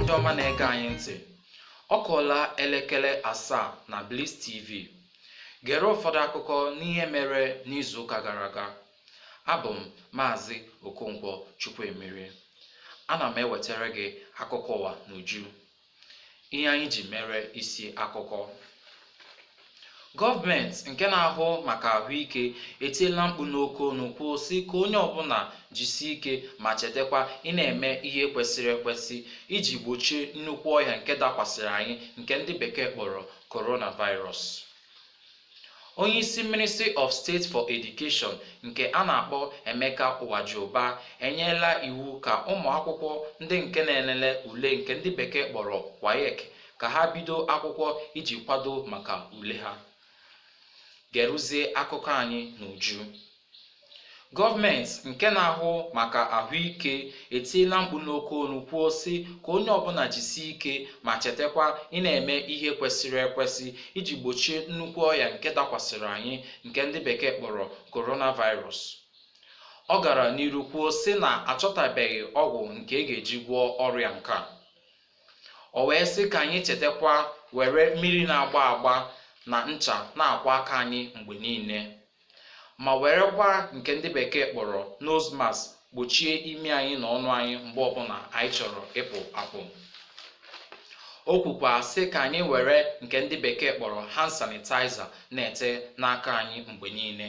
ndị ọma na-ege anyị ntị ọ kụọla elekere asaa na Bliss TV gere ụfọdụ akụkọ n'ihe mere n'izuụka gara aga abụ m maazị Okonkwo Chukwuemerie ana m ewetara gị akụkọ ụwa n'uju ihe anyị ji mere isi akụkọ gọọmenti nke na-ahụ maka ahụike etiela mkpu n'oke olu kwuo sị ka onye ọbụla jisie ike ma chetakwa ị na-eme ihe kwesịrị ekwesị iji gbochie nnukwu ọya nke dakwasịrị anyị nke ndị bekee kpọrọ coronavirus Onyeisi Ministry of State for Education nke a na-akpọ Emeka Nwajiuba enyela iwu ka ụmụakwụkwọ ndị nke na-elele ule nke ndị bekee kpọrọ WAEC ka ha bido akwụkwọ iji kwado maka ule ha. Geruzie akụkọ anyị n'uju. Gọọmenti nke na-ahụ maka ahụike etiela mkpu n'oke olu kwuo sị ka onye ọbụla jisie ike ma chetakwa ị na-eme ihe kwesịrị ekwesị iji gbochie nnukwu ọya nke dakwasịrị anyị nke ndị bekee kpọrọ coronavirus. Ọ gara n'iru kwuo sị na achọtabeghị ọgwụ nke a ga-eji gwọọ ọrịa nke a. O wee sị ka anyị chetakwa were mmiri na-agba agba na ncha na-akwọ aka anyị mgbe niile. ma werekwa nke ndị bekee kpọrọ nose mask gbochie imi anyị na ọnụ anyị mgbe ọbụla anyị chọrọ ịpụ apụ o kwukwa sị ka anyị were nke ndị bekee kpọrọ hand sanitizer na-ete n'aka anyị mgbe niile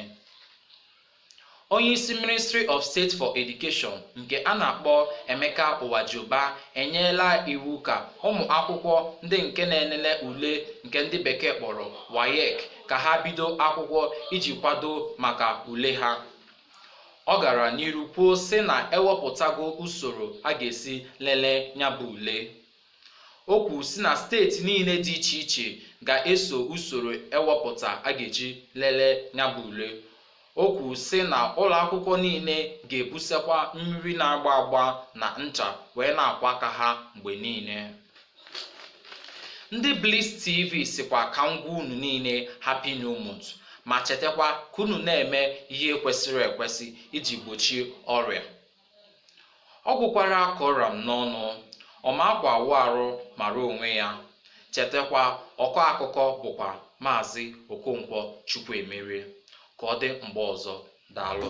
onye isi ministry of state for education nke a na-akpọ emeka nwajiuba enyela iwu ka ụmụ akwụkwọ ndị nke na-enene ule nke ndị bekee kpọrọ WAEC ka ha bido akwụkwọ iji kwado maka ule ha ọ gara n'iru kwuo sị na ewepụtago usoro a ga-esi lelee nya bụ ule o kwuru sị na steeti niile dị iche iche ga-eso usoro ewepụta a ga-eji lelee nya bụ ule O kwuru sị na ụlọakwụkwọ niile ga-ebusekwa mmiri na-agba agba na ncha wee na-akwọ aka ha mgbe niile. Ndị Bliss TV sịkwa ka m gwa unu niile Happy New Month ma chetakwa ka unu na-eme ihe kwesịrị ekwesị iji gbochie ọrịa. ọ gwụkwara ka ọ ra m n'ọnụ ọ ma akwa awụ arụ mara onwe ya chetakwa ọkọ akụkọ bụkwa maazị okonkwo chukwuemerie ka ọ dị mgbe ọzọ daalụ